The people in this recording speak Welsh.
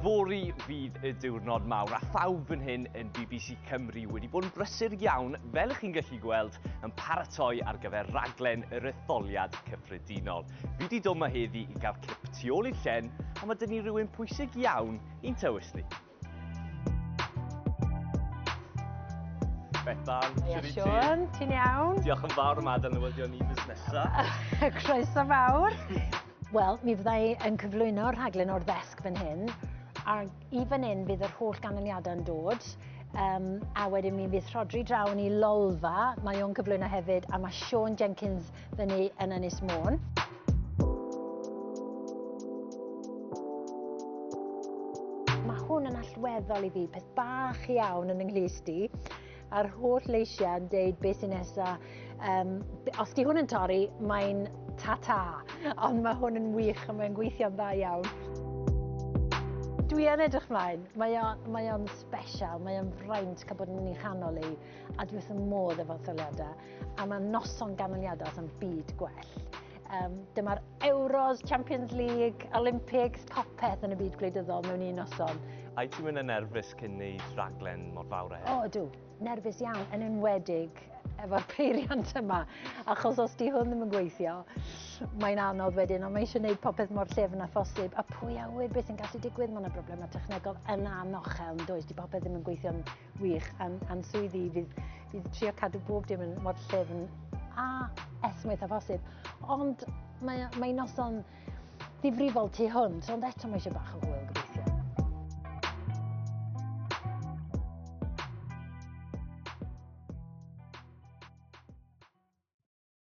Fori fydd y diwrnod mawr a phawb yn hyn yn BBC Cymru wedi bod yn brysur iawn, fel ych chi'n gallu gweld, yn paratoi ar gyfer raglen yr etholiad cyffredinol. Fi wedi dod yma heddi i gael cip tu ôl i'r llen, a mae dyn ni rhywun pwysig iawn i'n tywys ni. Bethan, Ia, Sian, Sian, ti'n iawn? Diolch yn fawr am adael newyddion i fus nesaf. Croeso fawr. Wel, mi fydda i yn cyflwyno rhaglen o'r ddesg fan hyn, a i fan hyn fydd yr holl ganlyniadau'n dod, um, a wedyn mi fydd Rhodri draw ni lolfa, mae o'n cyflwyno hefyd, a mae Sean Jenkins fyny yn Ynys Môn. Mae hwn yn allweddol i fi, peth bach iawn yn ynglys di a'r holl leisiau yn deud beth sy'n nesa. Um, os di hwn yn torri, mae'n ta-ta, ond mae hwn yn wych a mae'n gweithio'n dda iawn. Dwi yn edrych mlaen, mae o'n mae special, mae o'n fraint cael bod yn ei chanol i. a dwi wrth y modd efo'r tholiadau, a mae noson ganlyniadau yn byd gwell. Um, dyma'r Euros, Champions League, Olympics, popeth yn y byd gwleidyddol mewn un noson. Ai ti'n mynd yn nerfus cyn neud rhaglen mor fawr a hyn? O, dw. Nerfus iawn, yn enwedig efo'r peiriant yma. Achos os di hwn ddim yn gweithio, mae'n anodd wedyn, ond mae eisiau gwneud popeth mor llefn a phosib. A pwy awyr beth sy'n gallu digwydd, mae yna broblemau technegol yna anochel, yn does, di popeth ddim yn gweithio'n Wych, a'n, an swyddi fydd, fydd trio cadw bob dim yn mor llefn a esmwyth a phosib. Ond mae, mae noson ddifrifol tu hwnt, ond eto mae eisiau bach o hwyl gobeithio.